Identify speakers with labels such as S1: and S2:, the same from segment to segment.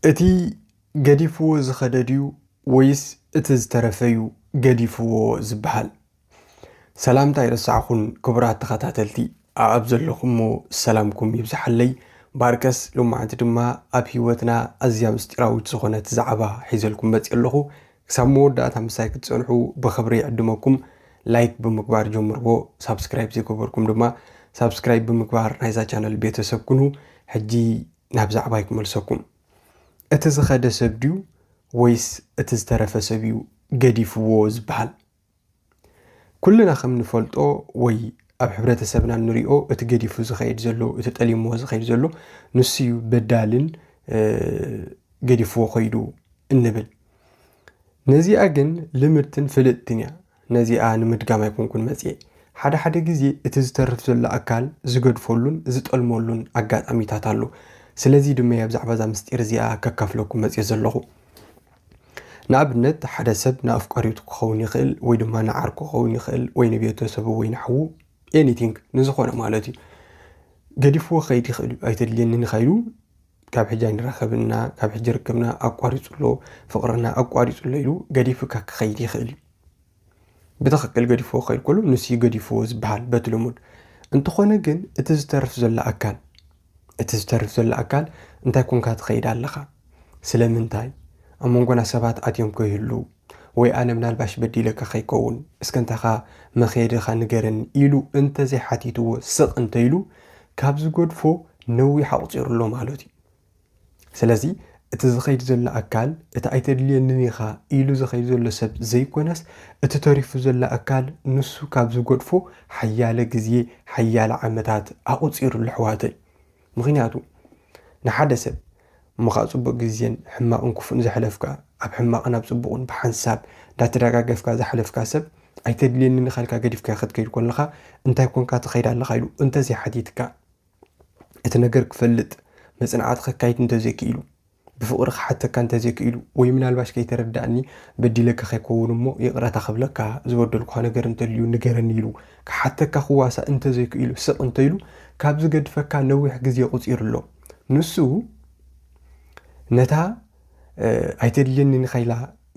S1: እቲ ገዲፍዎ ዝኸደ ድዩ ወይስ እቲ ዝተረፈ እዩ ገዲፍዎ ዝበሃል? ሰላምታ ኣይረሳዕኹን ክቡራት ተኸታተልቲ ኣብ ዘለኹሞ ሰላምኩም ይብዛሓለይ ባርከስ ሎማዓንቲ ድማ ኣብ ሂወትና ኣዝያ ምስጢራዊት ዝኾነት ዛዕባ ሒዘልኩም መጺኤ ኣለኹ ክሳብ መወዳእታ ምሳይ ክትጸንሑ ብኽብሪ ይዕድመኩም። ላይክ ብምግባር ጀምርዎ፣ ሳብስክራይብ ዘይገበርኩም ድማ ሳብስክራይብ ብምግባር ናይዛ ቻነል ቤተሰብ ኩኑ። ሕጂ ናብ ዛዕባይ ክመልሰኩም። እቲ ዝኸደ ሰብ ድዩ ወይስ እቲ ዝተረፈ ሰብ እዩ ገዲፍዎ ዝበሃል? ኩልና ከም ንፈልጦ ወይ ኣብ ሕብረተሰብና ንሪኦ እቲ ገዲፉ ዝኸይድ ዘሎ እቲ ጠሊምዎ ዝኸይድ ዘሎ ንሱ እዩ በዳልን ገዲፍዎ ከይዱ እንብል ነዚኣ ግን ልምድትን ፍልጥትን እያ ነዚኣ ንምድጋም ኣይኮንኩን መፅኤ ሓደ ሓደ ግዜ እቲ ዝተርፍ ዘሎ ኣካል ዝገድፈሉን ዝጠልመሉን ኣጋጣሚታት ኣሎ ስለዚ ድማ እያ ብዛዕባ እዛ ምስጢር እዚኣ ከካፍለኩም መፅኤ ዘለኹ ንኣብነት ሓደ ሰብ ንኣፍቃሪቱ ክኸውን ይኽእል ወይ ድማ ንዓርኩ ክኸውን ይኽእል ወይ ንቤተሰቡ ወይ ንሓዉ ኤኒቲንግ ንዝኾነ ማለት እዩ ገዲፍዎ ከይድ ይኽእል እዩ ኣይተድልየኒ ንኸይሉ ካብ ሕጂ ኣይንራኸብና ካብ ሕጂ ርክብና ኣቋሪፁ ኣሎ ፍቕርና ኣቋሪፁ ኣሎ ኢሉ ገዲፉካ ክኸይድ ይኽእል እዩ ብትኽክል ገዲፍዎ ከይልኩሉ ንሱዩ ገዲፍዎ ዝበሃል በቲ ልሙድ እንተኾነ ግን እቲ ዝተርፍ ዘሎ ኣካል እቲ ዝተርፍ ዘሎ ኣካል እንታይ ኮንካ ትኸይድ ኣለኻ ስለምንታይ ኣብ መንጎና ሰባት ኣትዮም ከይህልው ወይ ኣነ ምናልባሽ በዲለካ ከይከውን እስከ እንታኻ መኸየድኻ ንገረኒ ኢሉ እንተዘይሓቲትዎ ስቕ እንተኢሉ ካብ ዝገድፎ ነዊሕ ኣቑፂሩ ኣሎ ማለት እዩ ስለዚ እቲ ዝኸይድ ዘሎ ኣካል እቲ ኣይተድልየንን ኢኻ ኢሉ ዝኸይድ ዘሎ ሰብ ዘይኮነስ እቲ ተሪፉ ዘሎ ኣካል ንሱ ካብ ዝጎድፎ ሓያለ ግዜ ሓያለ ዓመታት ኣቑፂሩሉ ኣሕዋተይ ምክንያቱ ንሓደ ሰብ እሞኻዓ ፅቡቅ ግዜን ሕማቅን ክፉእን ዘሕለፍካ ኣብ ሕማቅን ኣብ ፅቡቅን ብሓንሳብ እንዳተደጋገፍካ ዘሕለፍካ ሰብ ኣይተድልየኒ ንካልካ ገዲፍካ ክትከይድ ኮለካ እንታይ ኮንካ ትኸይድ ኣለካ ኢሉ እንተዘይሓቲትካ እቲ ነገር ክፈልጥ መጽናዕቲ ከካይድ እንተዘይክኢሉ ብፍቕሪ ክሓተካ እንተዘይክኢሉ ወይ ምናልባሽ ከይተረዳእኒ በዲለካ ከይከውን እሞ ይቕረታ ክብለካ ዝበደልኳ ነገር እንተልዩ ንገረኒ ኢሉ ክሓተካ ክዋሳእ እንተዘይክኢሉ ስቕ እንተኢሉ ካብ ዝገድፈካ ነዊሕ ግዜ ቁፂሩ ኣሎ ንሱ ነታ ኣይተድልየኒ ንኸኢላ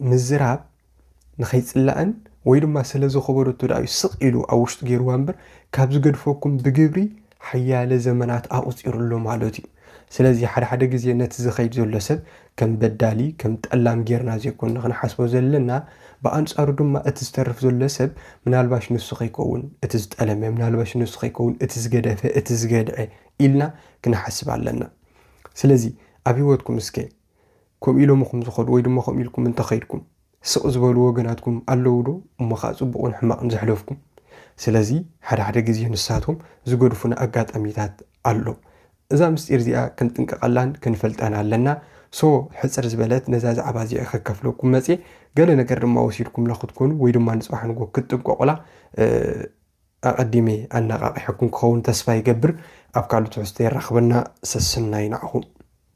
S1: ምዝራብ ንኸይጽላእን ወይ ድማ ስለ ዝኸበደቶ ደኣ እዩ ስቕ ኢሉ ኣብ ውሽጡ ገይርዋ እምበር ካብ ዝገድፈኩም ብግብሪ ሓያለ ዘመናት ኣቑጺሩ ኣሎ ማለት እዩ። ስለዚ ሓደ ሓደ ግዜ ነቲ ዝኸይድ ዘሎ ሰብ ከም በዳሊ ከም ጠላም ጌርና ዘይኮንና ክንሓስቦ ዘለና ብኣንጻሩ ድማ እቲ ዝተርፍ ዘሎ ሰብ ምናልባሽ ንሱ ከይከውን እቲ ዝጠለመ ምናልባሽ ንሱ ከይከውን እቲ ዝገደፈ እቲ ዝገድዐ ኢልና ክንሓስብ ኣለና። ስለዚ ኣብ ህይወትኩም እስከ ከምኡ ኢሎምኹም ዝኸዱ ወይ ድማ ከምኡ ኢልኩም እንተኸይድኩም ስቕ ዝበሉ ወገናትኩም ኣለዉ ዶ? እሞ ኸኣ ጽቡቕን ሕማቕን ዘሕለፍኩም። ስለዚ ሓደ ሓደ ግዜ ንሳቶም ዝገድፉና ኣጋጣሚታት ኣሎ። እዛ ምስጢር እዚኣ ክንጥንቀቐላን ክንፈልጣን ኣለና። ሶ ሕጽር ዝበለት ነዛ ዛዕባ እዚኣ ከከፍለኩም መጽየ። ገለ ነገር ድማ ወሲድኩምላ ክትኮኑ ወይ ድማ ንጽባሕ ንጎ ክትጥንቀቑላ ኣቐዲመ ኣነቓቒሐኩም ክኸውን ተስፋ ይገብር። ኣብ ካልእ ትሕዝቶ የራኽበና። ሰስናዩ ንዓኹም።